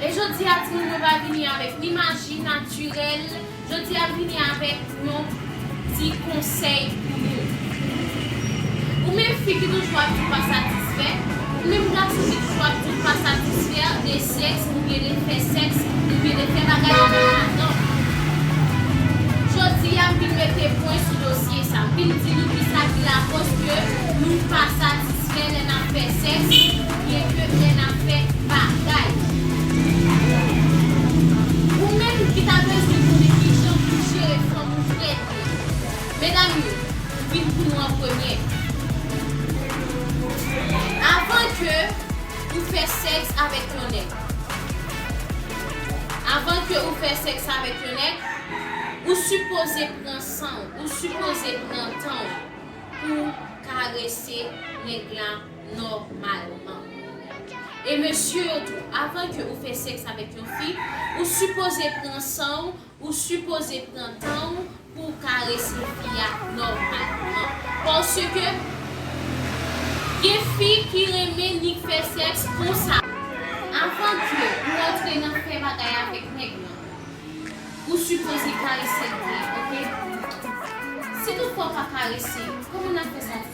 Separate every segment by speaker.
Speaker 1: E jodi a timoun yo pa vini avèk ni maji natirèl, jodi a vini avèk yon ti konsèy pou nou. Ou menm fi ki toujou ap di w pa satisfè, ou menm gason ki toujou ap di w pa satisfè de sèks oubyen de fè sèks oubyen de fè bagay avèk madanm ou. Jodi a m vin mete pwen sou dosye sa, m vin di nou kisa ki lakòz ke nou pa satisfè lè n ap fè sèks. Byen ke lè n ap fè bagay. Ou menm ki ta bezwen konnen kijan pou jere fanm ou frèt yo. Medam yo, m vin pou nou an premyè. Avan ke ou fè sèks avèk yon nèg. Avan ke ou fè sèks avèk yon nèg, ou sipoze pran san w, ou sipoze pran tan w pou w karese nèg la. nòmalman. E mesye yo tou, avan ke ou fè sèks avèk yon fi, ou sipoze pran san w, ou sipoze pran tan w pou w karese fi a nòmalman. Paske gen fi ki renmen nik fè sèks konsa. Avan ke ou antre nan fè bagay avèk nèg lan, ou sipoze karese l byen, ok? Si tout fwa w pa karese, kòman n ap fè sa?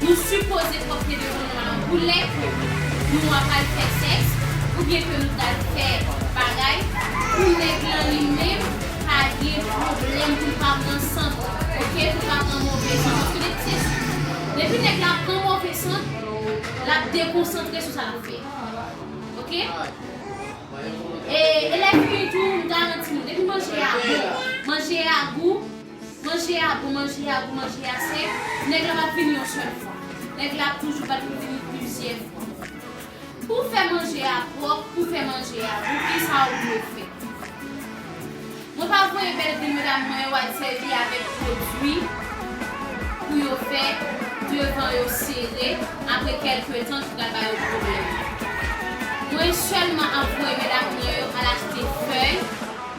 Speaker 1: Nou sipoze pòte devan nou an koulè ke nou apral fè sèks oubyen ke nou pral fè bagay pou nèg lan li menm pa gen pwoblèm pou l pa pran sant ok pou l pa pran move sant paske depi se depi nèg la pran move sant l ap dekonsantre sou sa l ap fè ok e lè fini tou m garanti nou depi manje a bon manje a gou. Manje a gou manje a gou manje a se Nèg la pap vini yon sèl fwa Nèg la ap toujou bat pou vini plizyè fwa Pou fè manje a pwòp pou fè manje a gou kisa ou dwe fè Mwen pa voye bèl vil medam mwen yo al sèvi avèk pwodwi pou yo fè devan yo sere apre kèlke tan ki pral ba yo pwoblèm Mwen sèlman ap voye medam mwen yo al achte fèy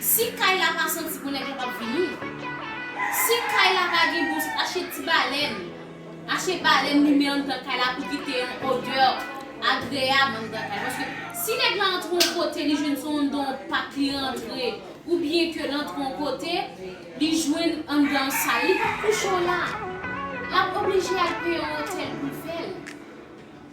Speaker 1: Si kay la pa santi bon nèg la pap vini si kay la pa gen dous ache ti balèn ache balèn limen anndan kay la pou kite yon odè agreyab anndan kay paske si nèg la antre yon kote li jwenn son anndan yon pak li rantre oubyen ke l antre yon kote li jwenn anndan an sal li pap kouche w la lap oblije al peye yon otèl pou l fè l.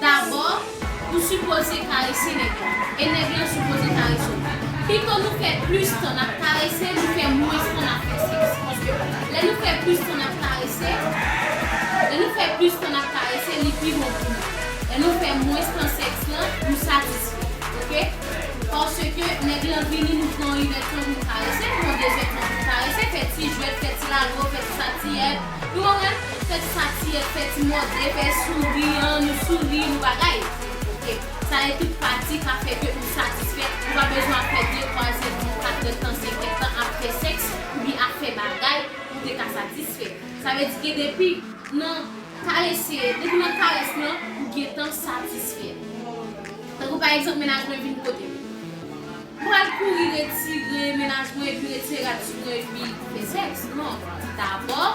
Speaker 1: Dabò, ou sipoze karese nèg la, e nèg lan sipoze karese w. Pito nou fè plis tan n ap karese, nou fè mwens tan n ap fè sèks. Paske, lè nou fè plis tan n ap karese, lè nou fè plis tan n ap karese, li pi bon pou nou. Lè nou fè mwens tan sèks lan, nou satisfè. Oke? Paske, nèg lan vini, nou pran yon inèdtan pou n karese, nou pran dezèdtan pou n karese, fè ti jwèt, fè ti lalo, fè ti satiyèt. Nou pa wè, fè ti pati, fè ti mòde, fè souri an, nou souri, nou bagay. Ok. Sa e tout pati ka fè ke ou satisfè, ou pa bezwen ap fè de, twazyèm tan, katrèm tan, senkyèm tan ap fè sèks oubyen ap fè bagay pou te ka satisfè. Sa vle di ke depi nan karese, depi nan karès lan, ou gentan satisfè. Tankou pa egzanp, menaj mwen vin kote m. M pral kouri retire mennaj mwen epi retire rad sou mwen epi fè sèks? Non. Dabò,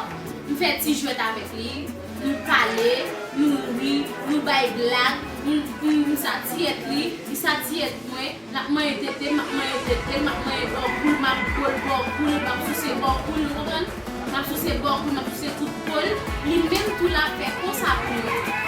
Speaker 1: m fè ti jwèt avèk li, nou pale, nou ri, nou bay blag, m m satiyèt li, li satiyèt mwen, n ap manyen tete, m ap manyen tete l, m ap manyen bò kou l, m ap bo l bò kou l, m ap souse bò kou l, nou konprann? M ap souse bò kou l, m ap souse tout po l, li menm tou l ap fè konsa pou mwen.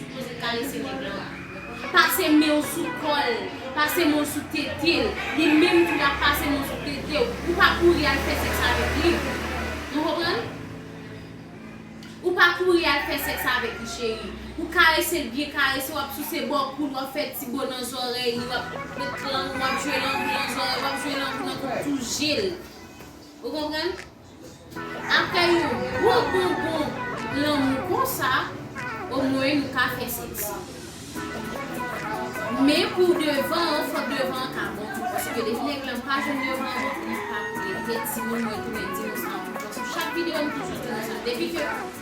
Speaker 1: José karese nèg lan wi. Pase menw sou kòl, pase menw sou tetel, li menm tou lap pase menw sou tetew, ou pa kouri al fè sèks avèk li, nou konprann? Ou pa kouri al fè sèks avèk li cheri, ou karesel byen karese wap souse bò koul wap fè ti bo nan zòrèy li wap met lang ou wap jwe lang ou nan zòrèy wap jwe lang ou nan tout jel ou konprann? Aprè yon gwo bonbon lanmou konsa omwen nou ka fè seksi. Men pou devan an fòk devan an ka bon tou paske depi nèg lan pa jwenn devan an bon li pa koule li te di nou mwen tounen di nou sa ankò sou chak videyo m toujou di nou sa depi ke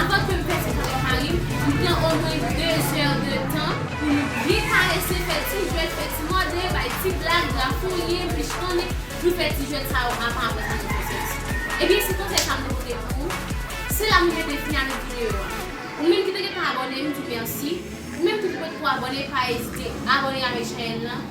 Speaker 1: Avan ke m pèse kaban farin, m pran omwen 2 zè de tan pou m byen karese, fè ti jwèt, fè ti mòde, bay ti blag, grafouye, m pichtonnen, nou fè ti jwèt sa yo avan aprè sa nou fè sèks. Ebyen se konsèy sa m te pote pou ou, se la m mete fen avèk videyo a. Ou menm ki te gentan abòne m di mèsi, ou menm ki te poko abòne pa ezite abòne avèk chèèn lan.